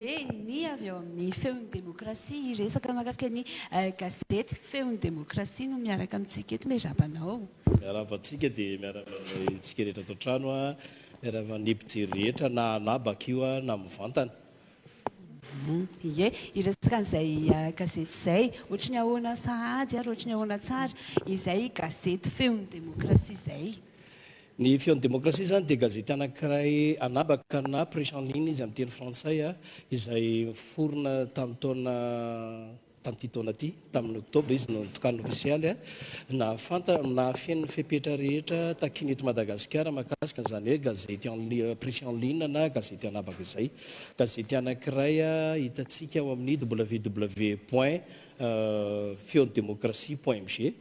Eny, avy ao amin'ny Feon'ny Demokrasia, hiresaka mahakasika ny gazety Feon'ny Demokrasia no miaraka amintsika eto. Miarahaba anao. Miarahaba antsika, dia miarahaba antsika rehetra ato an-trano, miarahaba ny mpijery rehetra na na bakio na mivantana. Ie, hiresaka an'izay gazety izay, ohatry ny ahoana sahady ary ohatry ny ahoana tsara izay gazety Feon'ny Demokrasia izay. Ny Feon'ny Demokrasia izany dia gazety anankiray anabaka na presse en ligne izy amin'ny teny frantsay, izay niforona tamin'ny taona tamin'ity taona ity, tamin'ny oktobra izy no nitokanina ofisialy, nahafanta nahafeno ny fepetra rehetra takiana eto Madagasikara mahakasika an'izany hoe gazety en presse en ligne na gazety anabaka izay. Gazety anankiray hitantsika ao amin'ny www point feon'demokrasia point mg.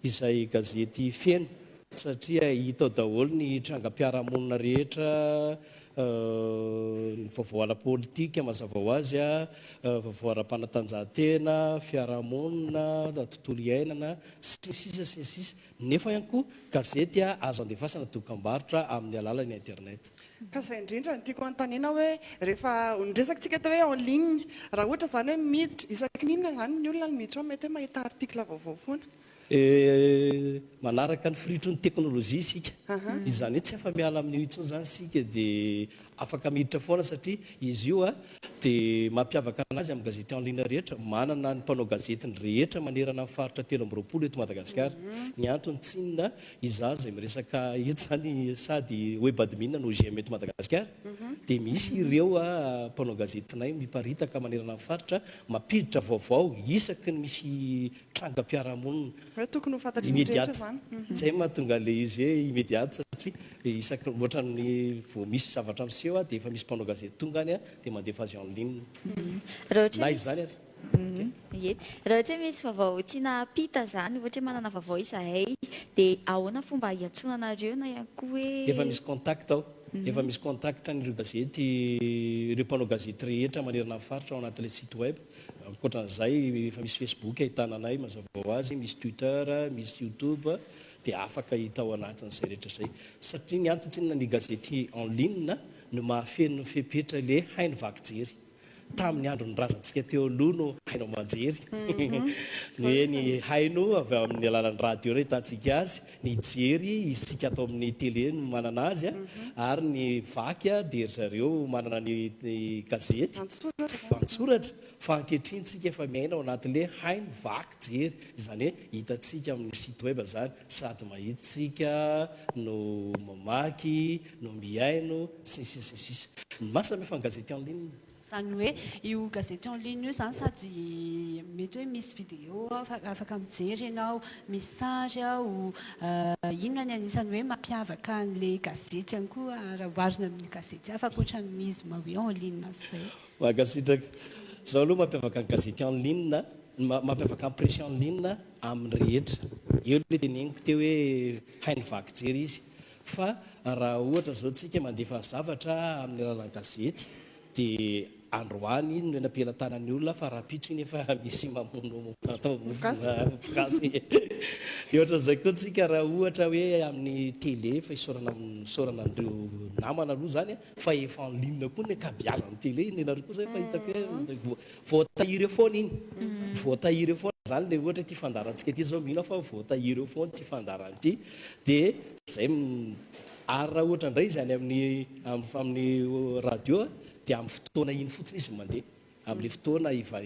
izay gazety feno satria hita ao daholo ny trangam-piarahamonina rehetra, ny vaovao ara-politika mazava ho azy, vaovao ara-panatanjahantena, fiarahamonina, tontolo iainana, sy ny sisa sy ny sisa. Nefa ihany koa gazety azo andefasana dokam-barotra amin'ny alalan'ny internet. Ka izay indrindra no tiako anontaniana hoe rehefa niresakantsika teo hoe en ligne, raha ohatra izany hoe miditra, isaky ny inona izany ny olona no miditra ao? Mety hoe mahita article vaovao foana. Manaraka ny firitry ny teknolojia isika, izany hoe tsy afa-miala amin'io intsony izany isika dia afaka miditra foana satria izy io dia mampiavaka an'azy amin'ny gazety en ligne rehetra, manana ny mpanao gazetiny rehetra manerana ny faritra telo amby roapolo eto Madagasikara. Ny antony tsy inona Izaho izay miresaka eto izany sady webadmin anao GM eto Madagasikara dia misy ireo mpanao gazetinay miparitaka manerana ny faritra mampiditra vaovao isaky ny misy trangam-piarahamonina. Tokony ho fantatry ny rehetra izany. Izay no mahatonga ilay izy hoe immédiate satria isaky ny ohatran'ny vao misy zavatra miseho dia efa misy mpanao gazety tonga any dia mandefa azy en ligne. Na izany ary. Ye. Raha ohatra hoe misy vaovao tiana hampita izany, ohatra hoe manana vaovao izahay, dia ahoana fomba hiantsoana anareo na ihany koa hoe. Efa misy contact ao. Efa misy contact an'ireo gazety, ireo mpanao gazety rehetra manerana ny faritra ao anatin'ilay site web. Ankoatra an'izay, efa misy Facebook ahitana anay mazava ho azy, misy Twitter, misy YouTube, dia afaka hita ao anatin'izay rehetra izay. Satria ny antony tsy inona, ny gazety en ligne no mahafeno ny fepetra ilay haino vaky jery. Tamin'ny andron'ny razantsika teo aloha no haino aman-jery ny hoe ny haino avy amin'ny alalan'ny radio no ahitantsika azy, ny jery isika ato amin'ny tele no manana azy ary ny vaky dia ry zareo manana ny gazety, antsoratra fa ankehitriny tsika efa miaina ao anatin'le haino vaky jery izany hoe hitantsika amin'ny site web izany sady mahita tsika no mamaky, no mihaino sy ny sisa sy ny sisa. Ny masina moa efa ny gazety en ligne. Izany hoe io gazety en ligne io izany sady mety hoe misy vidéo ao fa afaka mijery ianao, misy sary ao, inona ny anisan'ny hoe mampiavaka an'ilay gazety ihany koa raha oharina amin'ny gazety hafa ankoatra ny izy ma hoe en ligne sy izay. Mankasitraka. Izao aloha mampiavaka ny gazety en ligne, ny maha mampiavaka ny presse en ligne amin'ny rehetra. Eo ilay teneniko teo hoe hainy vaky jery izy. Fa raha ohatra izao tsika mandefa zavatra amin'ny alalan'ny gazety dia androany iny no eny am-pelatanan'ny olona fa rahampitso iny efa misy mamono atao mofogasy. Dia ohatran'izay koa tsika raha ohatra hoe amin'ny tele efa isaorana isaorana an'ireo namana aloha izany fa efa en ligne koa ny ankabiazan'ny télé iny ianareo koa zay efa hitako hoe mm. voa- voatahiry eo foana iny mm. voatahiry eo foana zany le ohatra ity fandarantsika ity zao mino aho fa voatahiry eo foana ity fandarana ity de zay m- ary raha ohatra indray izy any amin'ny am- amin'ny radio a, de amin'ny fotoana iny fotsiny izy mandeha Amin'ny fotoana ohatra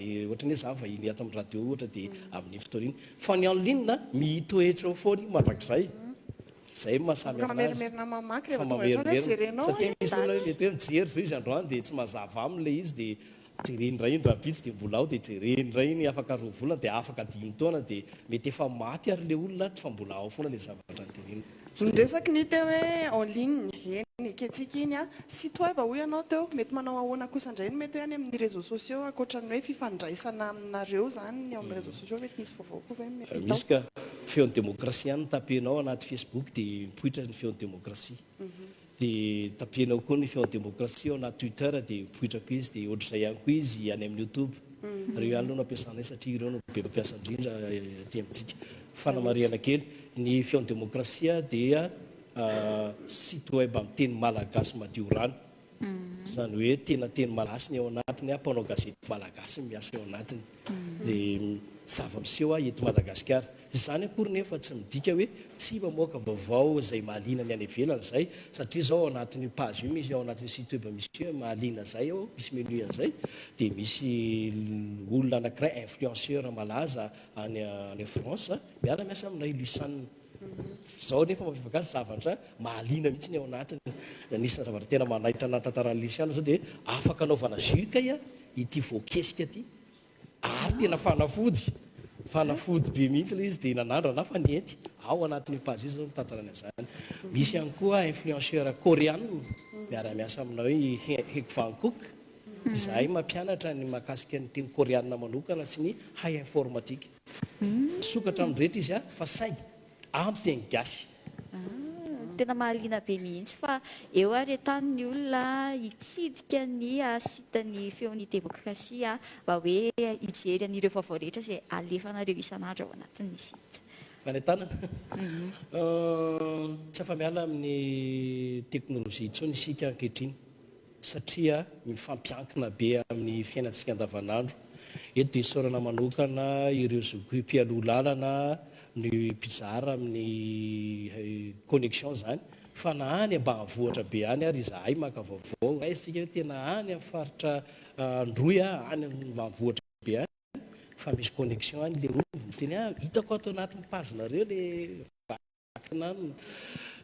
ny hoe za vahiny ato amin'ny radio ohatra dia amin'iny fotoana iny. Fa ny en ligne a, mitoetra eo foana io mandrakizay. Izay no maha samy hafa azy. Efa mamerimerina mamaky rehefa tonga eto hoe jerenao hoe daty. Satria misy olona hoe mety hoe mijery izao izy androany dia tsy mazava aminy ilay izy dia jereny indray iny rahampitso dia mbola ao dia jereny indray iny afaka roa volana dia afaka dimy taona dia mety efa maty ary ilay olona ato fa mbola ao foana ilay zavatra noteneniny. Ny resaky ny teo hoe en ligne, eny ekentsika iny an! Site web hoy ianao teo, mety manao ahoana kosa indray ny mety hoe any amin'ny réseaux sociaux ankoatra ny hoe fifandraisana aminareo izany ny eo amin'ny réseaux sociaux mety misy vaovao koa ve mety hita ao? Misy ka! Feon'ny Demokrasia ihany no tapenao anaty Facebook dia mipoitra ny Feon'ny Demokrasia. Dia tapihina ao koa ny feo demokrasia ao anaty Twitter dia mipoitra koa izy dia ohatr'izay ihany koa izy any amin'ny YouTube. Ireo ihany aloha no ampiasanay satria ireo no be mampiasa indrindra aty amintsika. Fanamarihana kely, ny feon'ny demokrasia dia site web amin'ny teny malagasy madio rano. Izany hoe tena teny malagasy ny ao anatiny, mpanao gazety malagasy no miasa ao anatiny. Dia zava-miseho eto Madagasikara. Izany akory nefa tsy midika hoe tsy mamoaka vaovao izay mahaliana ny any ivelany izay, satria izao ao anatin'io page io misy ao anatin'io site web misy hoe mahaliana izay ao, misy menu an'izay, dia misy olona anankiray influenceur malaza any any France miara miasa aminay Luciane, izao nefa mampiavaka azy zavatra mahaliana mihitsy ny ao anatiny, anisan'ny zavatra tena manaitra ny nahatantaran'i Luciane izao dia afaka anaovana jus kay a ity voakesika ity, Ary tena fanafody, fanafody be mihitsy ilay izy dia nanandrana aho fa nety ao anatin'io page io izao ny mitantara ny an'izany. Misy ihany koa influenceur Koreana miara-miasa aminao i Hegvankook, izahay mampianatra ny mahakasika ny teny Koreana manokana sy ny hay informatika. Misokatra amin'ny rehetra izy fa saingy amin'ny teny gasy. Tena mahaliana be mihitsy fa eo ary an-tany ny olona hitsidika ny site ny feon'ny demokrasia mba hoe hijery an'ireo vaovao rehetra izay alefanareo isan'andro ao anatin'ny site. Any an-tanana. Tsy afa-miala amin'ny teknolojia intsony isika ankehitriny. satria mifampiankina be amin'ny fiainantsika andavanandro. Eto dia isaorana manokana ireo zokiy mpialoha lalana ny mpizara amin'ny connexion izany fa na any ambanivohitra be any ary izahay maka vaovao raisitsika hoe tena any amin'ny faritra Androy a, any ambanivohitra be any fa misy connexion any ilay olona, miteny ah hitako ato anatin'ny page-nareo ilay. miankina aminy.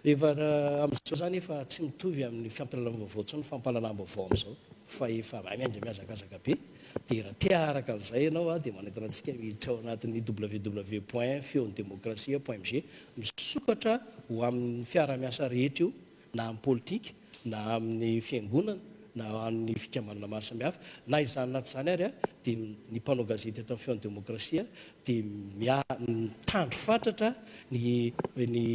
Efa amin'izao izany efa tsy mitovy amin'ny fampialalam-baovao intsony ny fampahalalam-baovao amin'izao fa efa mahay miandry mihazakazaka be. Dia raha te haharaka an'izay ianao dia manentana antsika miditra ao anatin'ny www point feon'demokrasia point mg misokatra ho amin'ny fiarahamiasa rehetra io. na amin'ny politika, na amin'ny fiangonana, na amin'ny fikambanana maro samihafa, na izany na tsy izany ary, dia ny mpanao gazety eto amin'ny Feon'ny Demokrasia dia mitandro fatratra ny ny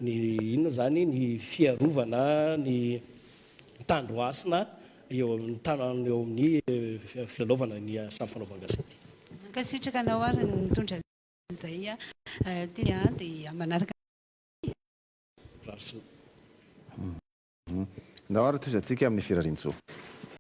ny inona izany, ny fiarovana ny tandro hasina eo amin'ny tanàna eo amin'ny filalaovana ny asan'ny fanaovan-gazety. Mankasitraka anao ary ny mitondra izay aty dia manaraka. Nahoana tohizantsika amin'ny firariantsoa?